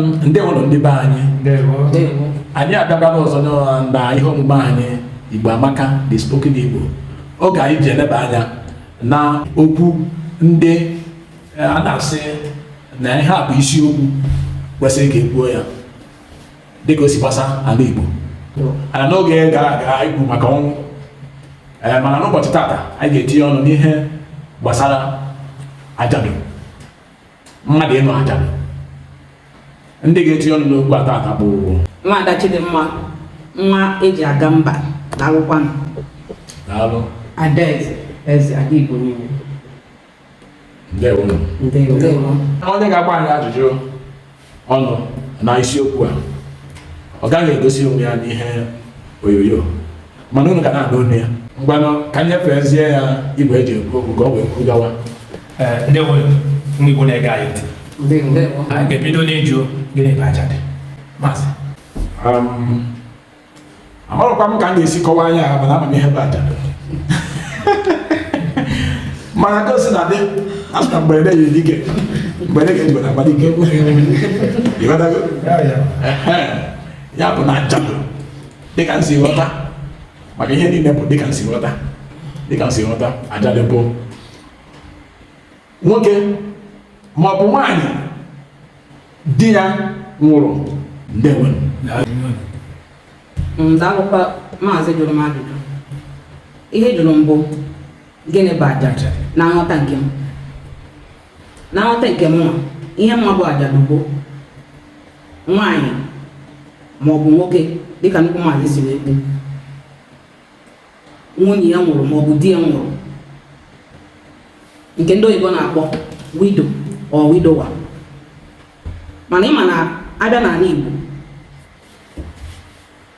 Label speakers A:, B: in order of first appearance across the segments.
A: ndewo nụ ndị be anyị anyị abịakwara ọzọ na ihe omume anyị igbo amaka the spoken igbo oge anyị ji eleba anya na okwu ndị e, a na-asị na ihe a bụ isiokwu kwesịrị ka e kwuo ya dịka o si gbasa ala igbo ana n'oge gara aga anyị kwuru maka ọnwụ e, mana n'ụbọchị tata anyị ga-etinye ọnụ n'ihe gbasara ajadu mmadụ ịnọ ajadu ndị ga-etinye ọnụ n'okwu a taa ka bụ nwaada Chidimma nwa eji aga mba daalụkwa daalụ adaeze eze ada igbo niile ndewo ndewo onye ga-agba anyị ajụjụ ọnụ na isiokwu a ọ gaghị egosi onwe ya n'ihe onyonyo mana unu ga na-anụ olu ya ngwanụ ka nyefezie ya igwe eji ekwu okwu ka ọ wee kwuru gawa ndewo ndị Igbo na-ege anyị ntị anyị ga-ebido n'ịjụ gịnị bụ ajadu maazị amarọkwa m ka m ga-esi kọwaa ya mana ama m ihe bụ ajadu mana ka o si na dị a sị na mgberede nyiri dike mgberede ka eji ama dike ị ghọtago Ehe. ya bụ na ajadu dịka m si ghọta maka ihe niile bụ dịka m si ghọta dịka m si ghọta ajadu bụ nwoke ma ọ bụ nwaanyị di ya nwụrụ ndewo daalụkwa maazị jụrụ m ajụjụ ihe ị jụrụ m bụ gịnị bụ ajadu na nghọta nke m na nghọta nke m nwa ihe m ma bụ ajadu bụ nwaanyị ma ọ bụ nwoke dịka nnukwu maazị si wee kwu nwunye ya nwụrụ maọbụ di ya nwụrụ nke ndị oyibo na-akpọ widow or widower mana ị ma na a bịa n'ala Igbo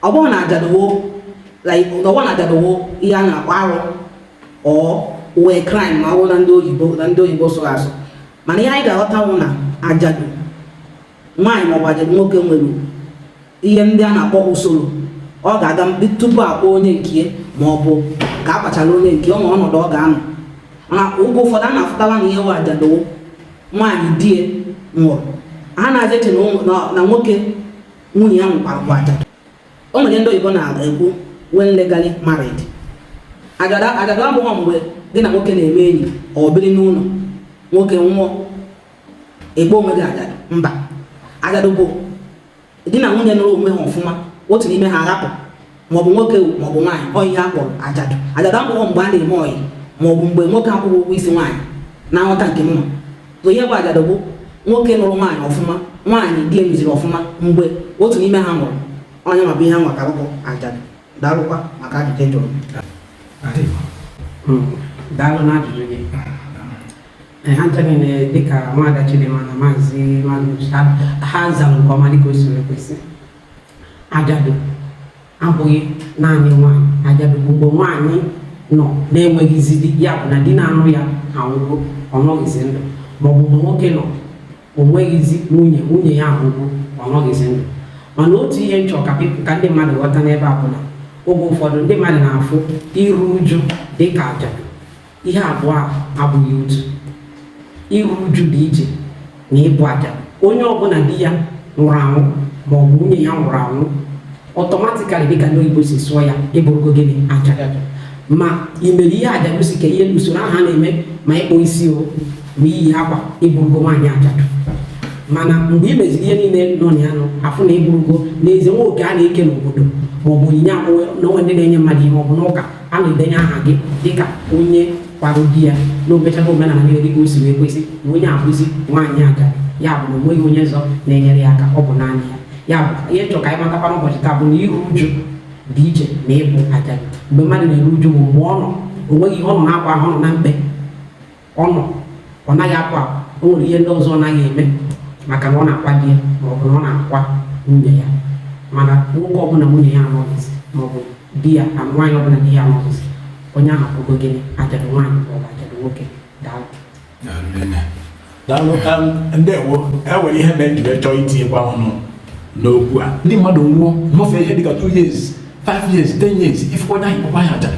A: ọ bụrụ na ajadu wụ ọ bụrụ na ajadu wụ ihe a na-akpọ arụ ọ wụ crime ma ọ bụrụ na ndị oyibo na ndị oyibo sụrụ asụ mana ihe anyị ga-aghọta wụ na ajadu nwaanyị maọbụ nwoke nwere ihe ndị a na-akpọ usoro ọ ga-aga tupu akpọ onye nke ma ọ bụ ka a kpachara onye nke ọ nwere ọnọdụ ọ ga-anọ mana oge ụfọdụ a na-afụtala na ihe wụ ajadu wụ nwaanyị di ya nwụrụ ha anaghị eche na nwoke nwunye ya nwụkwara bụ ajadu o nwere ihe ndị oyibo na-ekwu when legally married ajadu abụghị mgbe gị na nwoke na-eme enyi ọ biri n'ụlọ nwoke nwụọ ịkpọ onwe gị ajadu mba ajadu bụ di na nwunye nụrụ onwe ha ọfụma otu n'ime ha arapụ maọbụ nwoke maọbụ nwaanyị ọ ihe a kpọrọ ajadu ajadu abụghị mgbe a na-eme ọyị maọbụ mgbe nwoke akwụghị ụgwọ isi nwaanyị na nghọta nke m so ihe bụ ajadu bụ nwoke nụrụ nwaanyị ọfụma nwaanyị di emeziri ọfụma mgbe otu n'ime ha nwụrụ onye mabụ ihe ha nwaka bụ ajadu daalụkwa maka ajụjụ ị jụrụ hmm. daalụ na ajụjụ gị ha ncha niile dịka nwaada Chidimma na maazị Magnus ha zara nke ọma dịka o siri ekwesị ajadu abụghị naanị nwaanyị ajadu bụ mgbe nwaanyị nọ na-enweghịzi di ya bụ na di na-anụ ya anwụgo ọ nọghịzi ndụ maọbụ mgbe nwoke nọ o nweghịzi nwunye nwunye ya anwụgo ọ nọghịzi ndụ mana otu ihe m chọ ka ndị mmadụ ghọta n'ebe a bụ na oge ụfọdụ ndị mmadụ na-afụ iru uju dịka ajadu Ihe abụọ a abụghị otu. Iru uju dị iche na ịbụ ajadu. Onye ọbụla di ya nwụrụ anwụ ma ọ bụ nwunye ya nwụrụ anwụ automatically dịka ndị oyibo si sụọ ya ị bụrụgo gịnị ajadu ma i mere ihe aja gosi ka ihe usoro ahụ a na-eme ma ịkpụ isi o ma iyi akwa ị bụrụgo nwaanyị ajadu mana mgbe i meziri ihe niile nọ na ya nọ a fụ na ị bụrụgo n'ezie ma oke a na-eke n'obodo ma ọ bụ onyinye akpụwe na onwe ndị na-enye mmadụ ihe ma ọ bụ n'ụka a na-edenye aha gị dịka onye kwara di ya na o mechago omenala niile dịka o si wee kwesị na onye a bụzi nwaanyị ajadu ya bụ na o nweghị onye ọzọ na-enyere ya aka ọ bụ naanị ya ya bụ ihe m chọ ka anyị matakwa n'ụbọchị taa bụ na iru uju dị iche na ịbụ ajadu mgbe mmadụ na-eru uju bụ mgbe ọ nọ o nweghị ọ nọ na-akwa ahụ nọ na mkpe ọ nọ ọ naghị akwa akwa o nwere ihe ndị ọzọ ọ naghị eme maka na ọ na-akwa di ya ma ọ bụ na ọ na-akwa nwunye ya mana nwoke ọbụla nwunye ya anọghịzi ma ọ bụ di ya na nwaanyị ọbụla di ya anọghịzi onye ahụ bụgo gịnị ajadu nwaanyị ma ọ bụ ajadu nwoke daalụ daalụ um, ndewo e nwere ihe mere m jiri chọọ itinyekwa ọnụ n'okwu a di mmadụ nwụọ nọfee ihe dịka 2 years 5 years 10 years ị fụkwa nwaanyị kpọkwa ya ajadu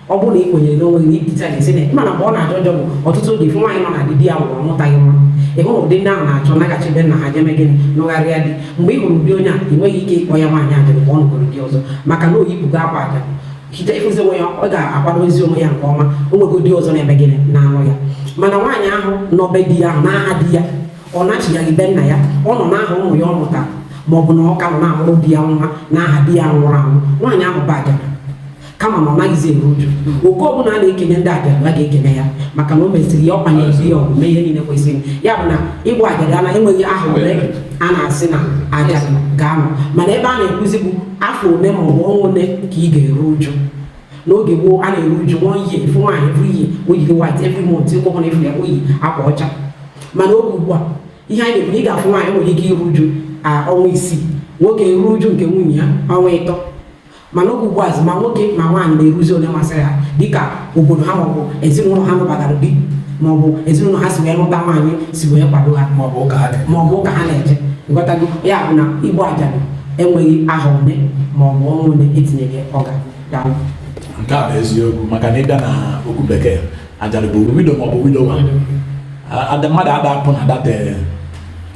A: ọ bụrụ na ị kwenyere n'onwe gị ibute anyị sị na ị ma na mgbe ọ na-ajọ njọ bụ ọtụtụ oge ị fụ nwaanyị nọ na di di ya nwụrụ ọ mụtaghị nwa ị hụrụ ụdị ndị ahụ na-achọ ịnaghachi be nna ha je mee gịnị nụgharịa di mgbe ị hụrụ ụdị onye a ị nweghị ike ịkpọ ya nwaanyị ajadu mgbe ọ nụgoro di ọzọ maka na o yipụgo akwa ajadu hite ịfụzi onwe ya ọ ga-akwadozi onwe ya nke ọma o nwego di ọzọ na-eme gịnị na-anụ ya mana nwaanyị ahụ nọ be di ya ahụ n'aha di ya ọ nachighị be nna ya ọ nọ n'aha ụmụ ya ọ mụtara ma ọ bụ na ọ ka nọ na-amụrụ di ya nwa n'aha di ya nwụrụ anwụ nwaanyị ahụ bụ ajadu kama na ọ naghịzi eru uju oke ọbụla a na-ekenye ndị ajadu a ga-ekenye ya maka na o mesịrị ya ọkwa na-ezi ya ọgwụ mee ihe niile kwesịrị ya bụ na ịbụ ajadu ana enweghị ahọ ole a na-asị na ajadu ga-anọ mana ebe a na-ekwuzi bụ afọ ole ma ọ bụ ọnwa ole ka ị ga-eru uju n'oge gboo a na-eru uju nwa ihe efu nwaanyị efu iyi o yiri white every month ụkwụ ọbụla efu ya o yi akwa ọcha mana oge ugbu a ihe anyị na-ekwu na ị ga-afụ nwaanyị nwere ike iru uju a ọnwa isii nwoke ruo uju nke nwunye ya ọnwa ịtọ mana oge ugbuazị ma nwoke ma nwaanyị na-eruzi one masịrị ha dịka obodo ha maọbụ ezinụlọ ha nụbagara di maọbụ ezinụlọ ha si wee lụta nwaanyị si wee kwado ha maọbụ ụka ha na-eme. maọbụ ụka ha na-eje ị ghọtago ya bụ na ịbụ ajadu enweghị ahọ one maọbụ ọnwa one etinyeghị ọga daalụ nke a bụ eziokwu maka na ịbịa na okwu bekee ajadu bụ widow maọbụ widower ada mmadụ ada apụ na that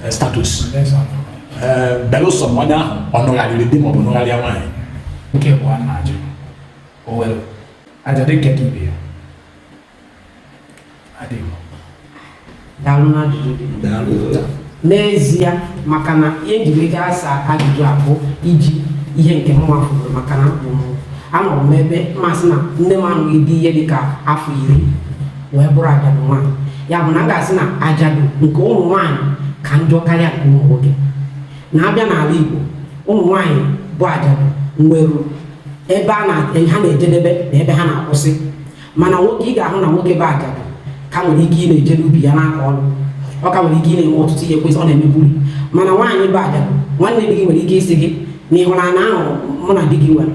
A: status Yes, I know. ee belụsọ ma onye ahụ ọ nụgharịrị di ma ọ bụ nụgharịa nwaanyị nke bụ a na-ajụ o nwere ajadu nke ka ibe ya adịghị daalụ n'ajụjụ gị daalụ n'ezie maka na ihe m ji wee gaa asa ajụjụ a bụ iji ihe nke m nwa fụrụ maka na mụ anọrọ m ebe mmasị na nne m anụghị di ihe dịka afọ iri wee bụrụ ajadu nwaanyị ya bụ na m ga-asị na ajadu nke ụmụ nwaanyị ka njọ karịa nke ụmụ nwoke na a bịa n'ala Igbo ụmụ nwaanyị bụ ajadu nwere ebe ha na-ejedebe na ebe ha na-akwụsị mana nwoke ị ga-ahụ na nwoke bụ ajadu ka nwere ike ị na-eje n'ubi ya na-akọ ọrụ ọ ka nwere ike ị na-eme ọtụtụ ihe kwesị ọ na-emebuli mana nwaanyị bụ ajadu nwanne di gị nwere ike ịsị gị na ihu ana ahụ mụ na di gị nwere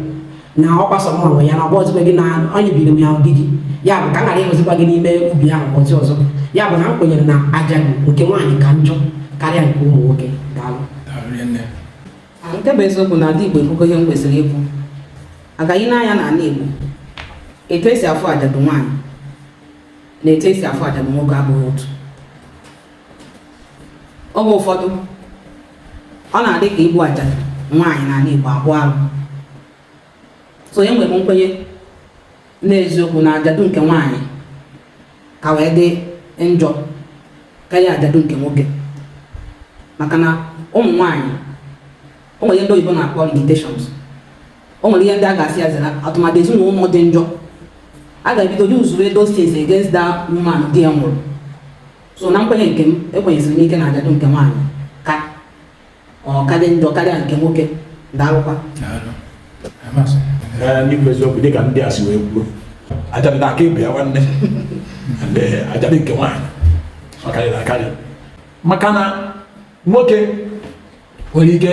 A: na ọ bụ sọ m nwe ya na ọ bụrọzikwa gị na onye biri m ya bụ di gị ya bụ ka m ghara ịhụzikwa gị n'ime ubi ahụ ụbọchị ọzọ ya bụ na m kwenyere na ajadu nke nwaanyị ka njọ karịa nke ụmụ nwoke daalụ nke bụ eziokwu na ala Igbo ekwugo ihe m kwesịrị ikwu a ga-ahụ n'anya na ala Igbo etu esi afụ ajadu nwaanyị na etu esi afụ ajadu nwoke abụghị otu oge ụfọdụ ọ na-adị ka ịbụ ajadu nwaanyị n'ala Igbo bụ alụ so enwere m nkwenye n'eziokwu na ajadu nke nwaanyị ka wee dị njọ karịa ajadu nke nwoke maka na ụmụ nwaanyị o nwere ihe ndị oyibo na-akpọ limitations o nwere ihe ndị a ga-asị a sị na atụmatụ ezinụlọ dị njọ a ga-ebido use those things against that woman di ya nwụrụ so na nkwenye nke m ekwenyesiri m ike na ajadu nke nwaanyị ka ọ ka dị njọ karịa nke nwoke daalụkwa n'ikwu eziokwu dịka ndị a si wee kwuo ajadu na aka ịbụ ya nwanne eh, ajadu nke nwaanyị ọ karịrị akarị maka na nwoke nwere ike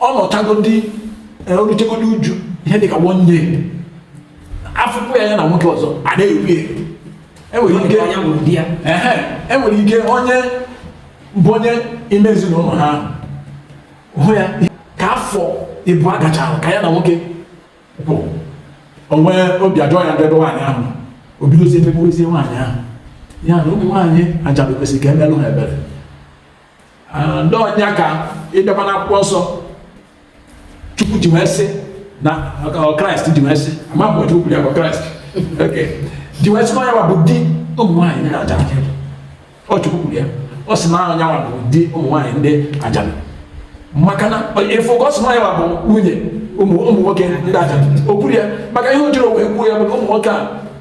A: ọ nọchagodi eh, o ruchagodi uju ihe dịka one year a fụkwa ya ya na nwoke ọzọ a na-ekwu enwere ike enwere ike onye bụ onye ime ezinụlọ ha hụ ya ka afọ ịbụa gachara ka ya na nwoke kwụ o nwee obi ajọ ya n'ebe nwaanyị ahụ o bidozie megbuwezie nwaanyị ahụ ya na ụmụ nwaanyị ajadu kwesị ka emelụ ha ebere Ah, ndị ọ nya ka ị bịakwa n'akwụkwọ nsọ chukwu ji wee sị na kraịst ji wee sị ma mgbe chukwu kwuru ya bụ kraịst ji wee sị na ọ nyanwa bụ di ụmụ nwaanyị ndị ajadu chukwu kwuru ya ọ sị na ọ nyanwa bụ di ụmụ nwaanyị ndị ajadu maka na ị fụ ka ọ sị na ọ nyanwa bụ nwunye ụmụ nwoke ndị ajadu o kwuru ya maka ihe o jiri wee kwuo ya bụ na ụmụ nwoke a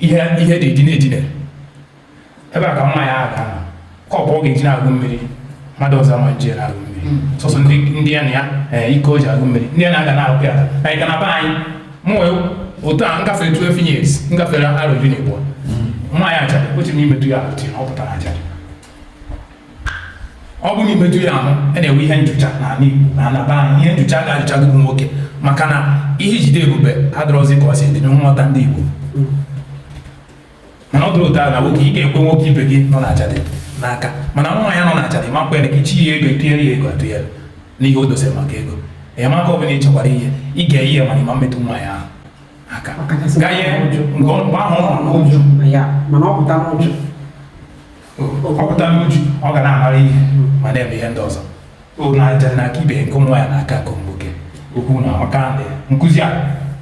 A: ihe ihe dị edine edine ebe a ka mma ya aka kọpụ ọ ga-eji na-aṅụ mmiri mmadụ ọzọ ama ji na-aṅụ mmiri hmm. sọsọ ndị ya na ya eh, iko o ji aṅụ mmiri ndị ya na-aga na-aṅụ ya na ịga na be anyị mụ wee otu a ngafere 12 years ngafere arọ iri na abụọ hmm. mma ya achara otu n'ime tu ya apụtị ọ pụtara achara ọ bụrụ i metụ ya ahụ a na-enwe ihe njucha n'ala Igbo na ala be anyị ihe njucha ga-ajụcha gị bụ nwoke maka na ihe ijide ebube adịrọzi ka ọ si dị nghọta ndị Igbo mana ọ dịrọ otu a na nwoke ị ga-ekwe nwoke ibe gị nọ na ajadu n'aka mana nwaanyị nọ na ajadu ị ma kwe ya aka ichi ya ego etinyere ya ego atụnyere n'ihe o dosere maka ego enyemaka ọbụla ị chọkwara ihe ị ga-enye ya mana ị ma metụ nwaanyị ahụ aka gaa ihe nke ọ mgbe ahụ ọ nọ n'uju mana ọ pụta n'uju ọ pụta n'uju ọ ga na-amara ihe ma na-eme ihe ndị ọzọ na ajadu na-aka ibe nke nwaanyị na-aka nke nwoke okwu a amaka nkuzi a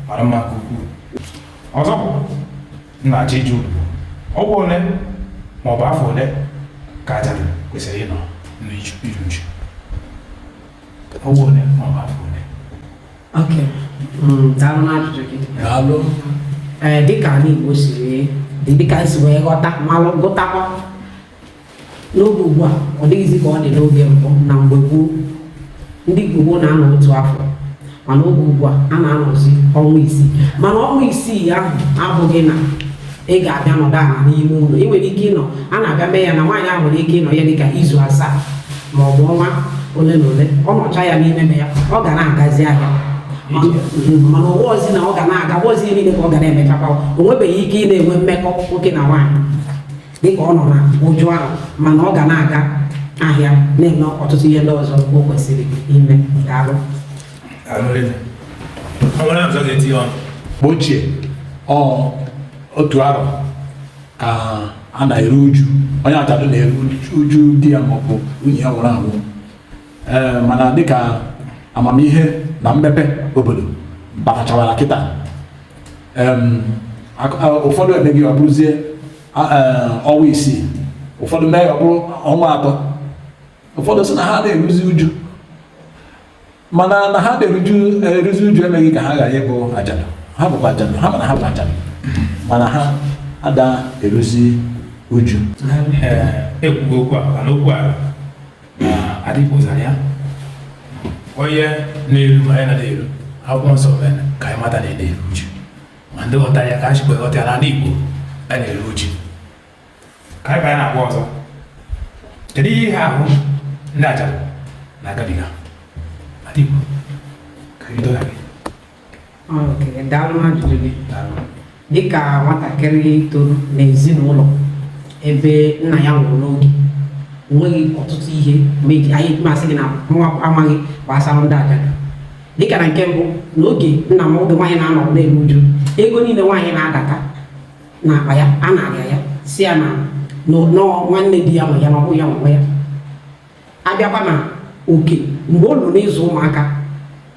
A: mara mma nke ukwuu ọzọ m na-achọ ịjụ ọnwa ole ma ọ bụ afọ ole ka ajadu kwesịrị ịnọ n'iru uju ọnwa ole ma ọ bụ afọ Mm, daalụ n'ajụjụ gị daalụ ee eh, dịka ala Igbo siri dị dịka esi wee ghọta malụ gụtakwa n'oge ugbu a ọ dịghịzi ka ọ dị n'oge mbụ na mgbe gboo ndị Igbo na-anọ otu afọ mana oge ugbu a a na-anọzi ọnwa isii mana ọnwa isii ahụ abụghị na ị ga-abịa nọdụ ala n'ime ụlọ ị nwere ike ịnọ a na-abịa mee ya na nwaanyị ahụ nwere ike ịnọ ya dịka izu asaa ma ọ bụ ọnwa ole na ole ọ nọcha ya n'ime ya ọ ga na-agazi ahịa mana ụwa ozi na ọ ga na-aga ụwa ozi niile ka ọ ga na-emechakwa o nwebeghị ike ịna-enwe mmekọ nwoke na nwaanyị dịka ọ nọ na uju ahụ mana ọ ga na-aga ahịa na-eme ọtụtụ ihe ndị ọzọ o kwesịrị ime daalụ ochie otu arọ ka a na-eru uju onye ajadu na-eru uju di ya maọbụ nwunye ya nwụrụ anwụ ee mana dịka amamihe na mmepe obodo batachawara kịta ụfọdụ emezie ya ọ bụrụzie ọnwa isii ụfọdụ mee ya ọ bụrụ ọnwa atọ ụfọdụ sị na ha na-eruzi uju mana na ha ada eruzi uju emeghị ka ha ghara ịbụ ajadu ha bụkwa ajadu ha mana ha bụ ajadu mana ha ada eruzi uju ekwugo okwu a mana okwu a adịghịzi anya onye na-eru ma anyị na-adị eru akwụkwọ nsọ mere ka anyị mata na a na-eru uju ma ndị ghọta ya ka e sikwa ghọta ya n'ala Igbo a na-eru uju ka anyị banye n'agba ọzọ kedu ihe ihe ahụ ndị ajadu na-agabiga adịgbo ka anyị dọgha gị Okay, daalụ ajụjụ gị daalụ dịka nwatakịrị toro n'ezinụlọ ebe nna ya nwụrụ n'oge enweghị ọtụtụ ihe m ga-eji anya m sị gị na mụ amaghị gbasara ndị ajadu dịka na nke mbụ n'oge nna m oge nwaanyị na-anọ na-eru uju ego niile nwaanyị na-adata n'akpa ya a nara ya sị ya na ọ nwanne di ya nwe ya na ọ bụ ya nwe ya a bịakwa na okay mgbe o ruru n'ịzụ ụmụaka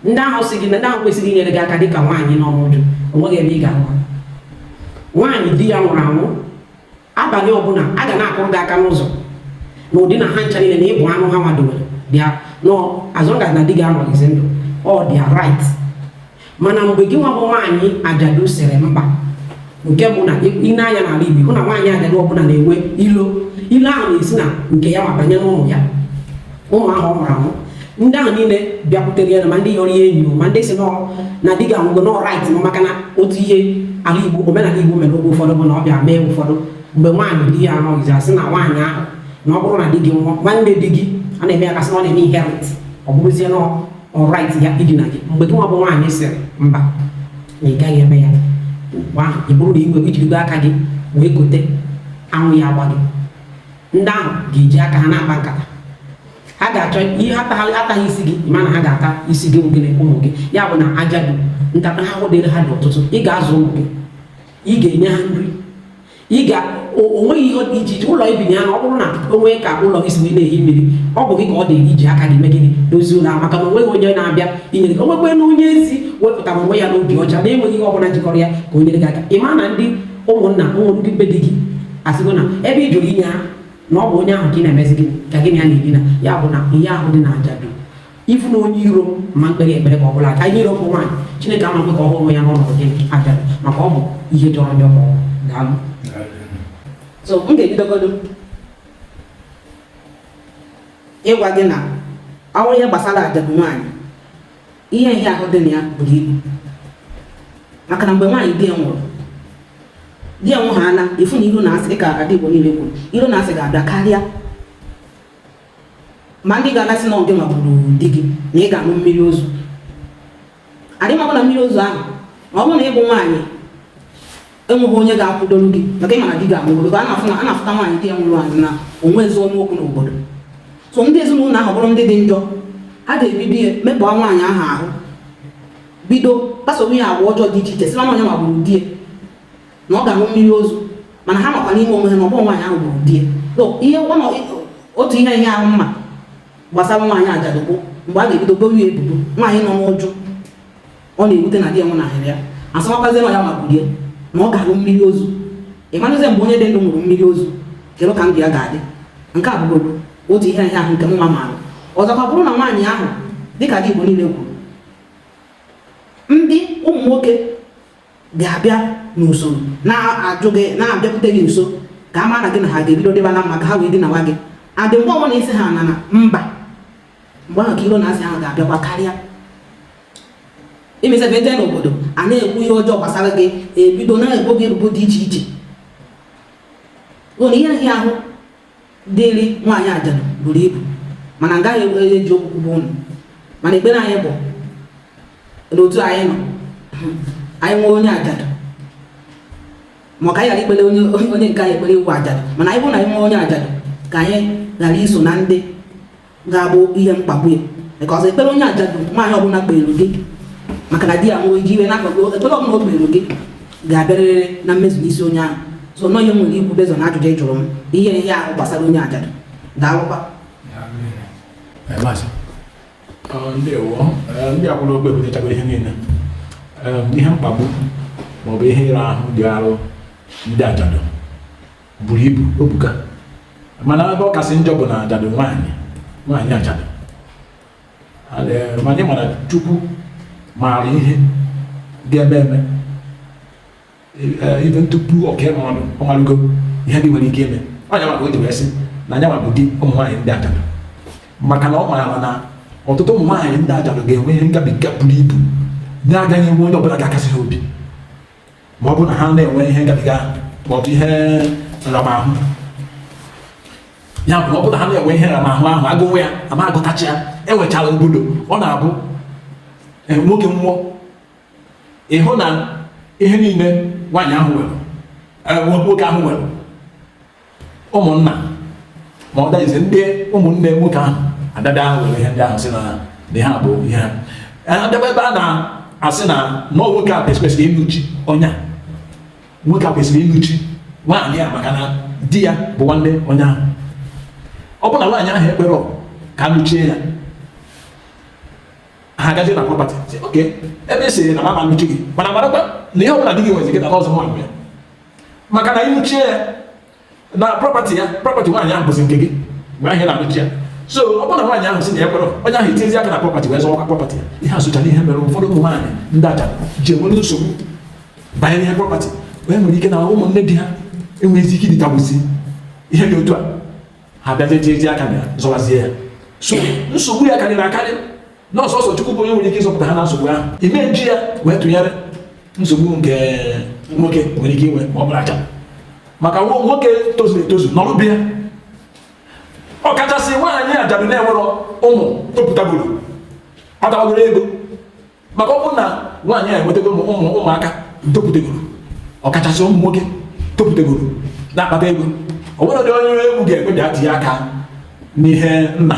A: ndị ahụ sị gị na ndị ahụ kwesịrị inyere gị aka dịka nwaanyị nọ n'uju onweghị ebe ị ga-ahụ ha nwaanyị di ya nwụrụ anwụ abalị ọbụla a ga na-akụrụ gị aka n'ụzọ na ụdị na ha ncha niile na ị bụ anụ ha nwadowere bịa nọọ as long as na di gị anọghịzi ndụ ọ their right mana mgbe gị nwa bụ nwaanyị ajadu sịrị mba nke bụ na ị nee anya n'ala Igbo hụ na nwaanyị ajadu ọbụla na-enwe ilo ilo ahụ na-esi na nke ya ma banye n'ụmụ ya ụmụ ahụ ọ mụrụ amụ ndị ahụ niile bịakwutere ya na ma ndị yọrọ ya enyi ma ndị sị nọ na di gị anwụgo na ọ right ha maka na otu ihe ala Igbo omenala Igbo mere oge ụfọdụ bụ na ọ bịa mee ụfọdụ mgbe nwaanyị di ya anọghịzi a sị na nwaanyị ahụ na ọ bụrụ na di gị nwụọ nwanne di gị a na-eme ya ka a sị na ọ na-eme inherit ọ bụrụzie na ọ right ya idina gị mgbe gị nwa bụ nwaanyị sịrị mba na ị gaghị eme ya mgbe ahụ ọ bụrụ na ị were i jirigo aka gị wee kote anwụ ya agbaa gị ndị ahụ ga-eji aka ha na-akpa nkata ha ga-achọ ihe ataghị isi gị mana ha ga-ata isi gị gị na ụmụ gị ya bụ na ajadu ntaramahụhụ dịrị ha dị ọtụtụ ị ga-azụ ụmụ gị ị ga-enye ha nri ị ga onweghị ihe dị iche iche ụlọ i bi na ya na ọ bụrụ na o nwee ka ụlọ gị si wee na-ehi mmiri ọ bụ gị ka ọ dị iji aka gị mezie dozie ụlọ maka na onweghị onye na-abịa inyere gị o nwekwanụ onye ezi wepụtara onwe ya n'obi ọcha na enweghị ihe ọbụla jikọrọ ya ka o nyere gị aka ị ma na ndị ụmụnna ụmụ ndị be di gị asịgo na ebe ị jụrụ inye ha na ọ bụ onye ahụ ka ị na-emezi gị ka gị na ya na-edina ya bụ na ihe ahụ dị na ajadu ị fụ na onye iro ma m kpeere ekpere ma ọ bụla aka ihe iro bụ nwaanyị chineke amaghị ka ọ hụrụ ya n'ọnọdụ gị aja maka ọ bụ ihe jọrọ njọ ma ọ daalụ so m ga-ebidogodu ịgwa gị na ọ bụrụ ihe gbasara ajadu nwaanyị ihe ịhịa ahụ dị na ya buru ibu maka na mgbe nwaanyị di ya nwụrụ di ya nwụrụ a na-afụ na iro na asị dịka ada igbo niile kwuru iro na asị ga-abịa karịa ma ndị ga na-asị na ọ gị nwa gburu di gị na ị ga-aṅụ mmiri ozu adị mabụ na mmiri ozu ahụ ma ọ bụrụ na ị bụ nwaanyị enweghị onye ga-akwụdoro gị maka ịmara di ga-anwụ obodo a na-afụ na a na-afụta nwaanyị di ya nwụrụ anwụ na o nweghị ezi ọnụ okwu n'obodo so ndị ezinụlọ ahụ bụrụ ndị dị njọ ha ga-ebibi ya mekpọọ nwaanyị ahụ ahụ bido kpasowe ya agwa ọjọọ dị iche iche sị ya na ọ ya nwa gburu di ya na ọ ga-aṅụ mmiri ozu mana ha makwa n'ime onwe ha na ọ bụghị nwaanyị ahụ gburu di ya otu ihe ịhịa ahụ m ma gbasara nwaanyị ajadu bụ mgbe a ga-ebido bowe ya ebubo nwaanyị nọ n'uju ọ na-ewute na di ya nwụnahịrị ya a sịwakwazie na ya nwa gburu ya na ọ ga-aṅụ mmiri ozu ị marazie mgbe onye dị ndụ ṅụrụ mmiri ozu kedu ka ndụ ya ga-adị nke a bụgodu otu ihe ịhịa ahụ nke m maara ọzọkwa bụrụ na nwaanyị ahụ dịka ada Igbo niile kwuru ndị ụmụ nwoke ga-abịa n'usoro na-ajụ gị na-abịakwute gị nso ka a mara gị na ha ga-ebido dịba na mma ka ha wee dinawa gị adị mgbe ọbụla ị sị ha na na mba mgbe ahụ ka iro na asị ahụ ga-abịakwa karịa imesebe jee n'obodo a na-ekwu ihe ọjọọ gbasara gị ebido na-ebo gị ebubo dị iche iche ị fụ na ihe ịhịa ahụ Dịrị nwaanyị ajadu buru ibu mana m gaghị e, eji okwu kwugbuo ụnụ mana ekpere anyị bụ n'otu anyị nọ anyị nwee onye ajadu ma ka anyị ghara ikpere onye onye nke anyị ekpere ịwụ ajadu mana ya bụrụ na anyị nwee onye ajadu ka anyị ghara iso na ndị ga-abụ ihe mkpagbu ya because ekpere onye ajadu nwaanyị ọbụla kpeere gị maka na di ya nwere ike iwe n'akụkụ ekpere ọbụla o kpeere gị ga-abịarịrị na mmezu n'isi onye ahụ so na ọ ihe m nwere ikwu based na ajụjụ ị jụrụ m ihe ịhịa ahụ gbasara onye ajadu daalụkwa ndewo ndị a kwuru okwu ebutechago ihe niile ihe mkpagbu maọbụ ihe ịra ahụ dịrị ndị ajadu buru ibu o buka mana ebe ọ kasị njọ bụ na ajadu nwaanyị nwaanyị ajadu anyị ma na chukwu maara ihe ga-eme eme even tupu o kee mmadụ ọ marụgo ihe ndị nwere ike ime ọ ya mere o ji wee sị na ọ ya nwa bụ di ụmụ nwaanyị ndị ajadu maka na ọ maara na ọtụtụ ụmụ nwaanyị ndị ajadu ga-enwe ihe ngabiga buru ibu na-agaghị enwe onye ọbụla ga-akasị ha obi ma ọ bụ na ha na-enwe ihe ngabiga ma ọ bụ ihe nramahụ ya bụ na ọ bụ na ha na-enwe ihe nramahụ ahụ a gụwa ya a ma agụtacha ya e nwechara obodo ọ na-abụ e, nwoke nwụọ ị hụ na ihe niile nwaanyị ahụ nwere e, nwoke ahụ nwere ụmụnna ma ọ daghịzi ndị ụmụnne nwoke ahụ adada ahụ were ihe ndị ahụ sị na na ha bụ ihe ha adaba ebe a na-asị na na nwoke a kwesịrị ịnụchi onye a nwoke a kwesịrị ịnụchi nwaanyị a maka na di ya bụ nwanne onye ahụ ọ bụ na nwaanyị ahụ ekwerọ ka a nụchie ya ha agazie na prọpati oke ebe ị sịrị na m ama anụchi gị mana marakwa na ihe ọ bụla di gị nwezi gị na ọzọ nwa mgbe maka na ị nụchie ya na prọpati ya prọpati nwaanyị ahụ bụzi nke gị mgbe ahụ na-anụchi ya so ọ bụrụ na nwaanyị ahụ sị na ya ekwerọ onye ahụ etinyezi aka na prọpati wee zọwa prọpati ya ihe a sochara ihe mere ụfọdụ ụmụ nwaanyị ndị ajadu ji enwere nsogbu banyere ihe prọpati wee nwere ike na ụmụnne di ha enweghịzi ike iditagbuzi ihe dị otu a ha bịazie tie aka na ya zọwazie ya so nsogbu ya karịrị akarị na ọ sọsọ Chukwu bụ onye nwere ike ịzọpụta ha na nsogbu ahụ ị ma eji ya wee tụnyere nsogbu nke nwoke nwere ike inwe ma ọ bụrụ ajadu maka nwoke tozuru etozu nọrụbe ya ọkachasị nwaanyị ajadu na-enwerọ ụmụ topụtagoro kpatabagoro ego maka ọ bụrụ na nwaanyị a enwetago ụmụ ụmụaka topụtagoro ọkachasị ụmụ nwoke topụtagoro na-akpata ego ọ bụrụ dị onye egwu ga-ekwe bịa tinye aka n'ihe nna